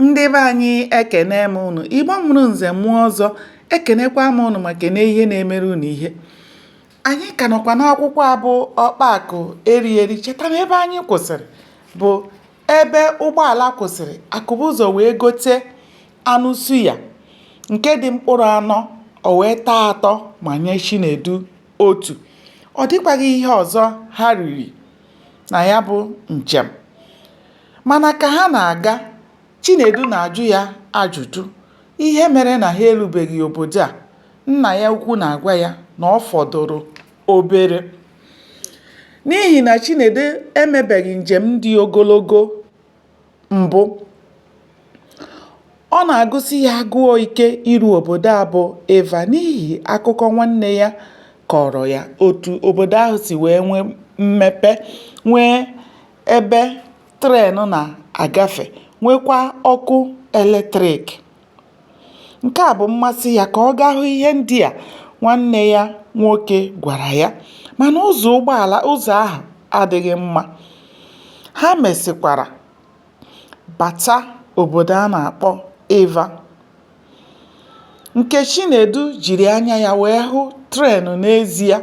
ndị be anyị ekene m ụnụ igbo mụrụ nze mụọ ọzọ ekenekwa m ụnụ ma kene ihe na-emere ụnụ ihe anyị ka nọkwa n'akwụkwọ a bụ ọkpa akụ eri eri cheta na ebe anyị kwụsịrị bụ ebe ụgbọala kwụsịrị akụbụzọ wee gote anụ suya nke dị mkpụrụ anọ o wee taa atọ ma nye chinedu otu ọ dịkwaghị ihe ọzọ ha riri na ya bụ njem mana ka ha na-aga Chinedu na-ajụ ya ajụjụ ihe mere na ha erubeghị obodo a nna ya ukwu na-agwa ya na ọ fọdụrụ obere n'ihi na Chinedu emebeghị njem dị ogologo mbụ, ọ na-agụsi ya agụọ ike iru obodo a bụ Ịva n'ihi akụkọ nwanne ya kọọrọ ya otu obodo ahụ si wee nwee mmepe, nwee ebe tren na-agafe, nweekwa ọkụ eletrik. Nke a bụ mmasị ya ka ọ gaa hụ ihe ndị a nwanne ya nwoke gwara ya. Mana ụzọ ụgbọala ụzọ ahụ adịghị mma. Ha mesịkwara bata obodo a na-akpọ Ịva. Nke Chinedu jiri anya ya wee hụ tren n'ezie,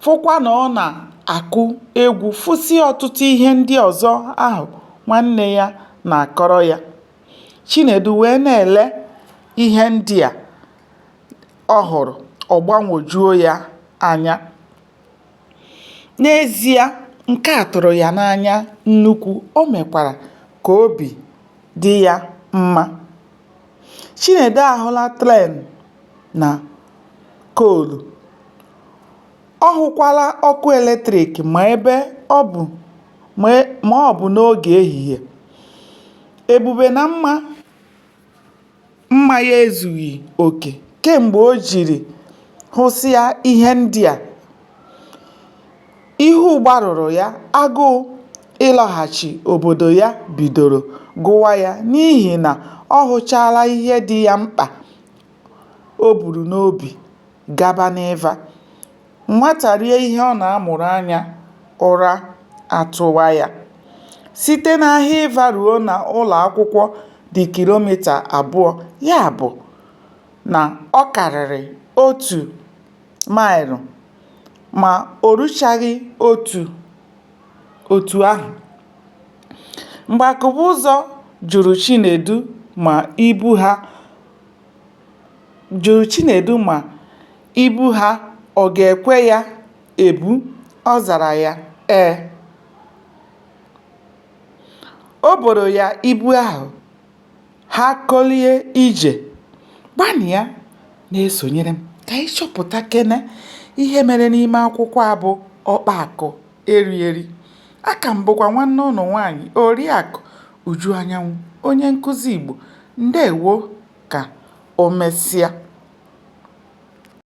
fụkwa na ọ na-akụ egwu, fụsịa ọtụtụ ihe ndị ọzọ ahụ nwanne ya na-akọrọ ya. Chinedu wee na-ele ihe ndị a ọ hụrụ, ọ gbanwojuo ya anya. N'ezie, nke a tụrụ ya n'anya nnukwu, o mekwara ka obi dị ya mma. Chinedu ahụla tren na koolu. Ọ hụkwala ọkụ eletrik ma ebe ma ọ bụ n'oge ehihie. Ebube na mma mma ya ezughị oke kemgbe o jiri hụsịa ihe ndị a. Ihu gbarụrụ ya, agụụ ịlọghachi obodo ya bidoro gụwa ya n'ihi na ọ hụchaala ihe dị ya mkpa o buru n'obi gaba n'ịva. Nwata rie ihe ọ na-amụrụ anya, ụra atụwa ya. Site n'ahịa ịva ruo na ụlọ akwụkwọ dị kilomita abụọ, ya bụ na ọ karịrị otu maịlụ ma o ruchaghị otu ahụ. Mgbe Akụbụzọ jụrụ Chinedu ma ibu ha jụrụ Chinedu ma ibu ha ọ ga-ekwe ya ebu, ọ zara ya ee. O boro ya ibu ahụ, ha kolie ije. Gbanịa na-esonyere m ka anyị chọpụtakene ihe mere n'ime akwụkwọ a bụ Ọkpaakụ. eri eri. Aka m bụkwa nwanne ụnụ nwaanyị Oriakụ Uju Anyanwụ, onye nkụzi Igbo. Ndewo ka o mesịa.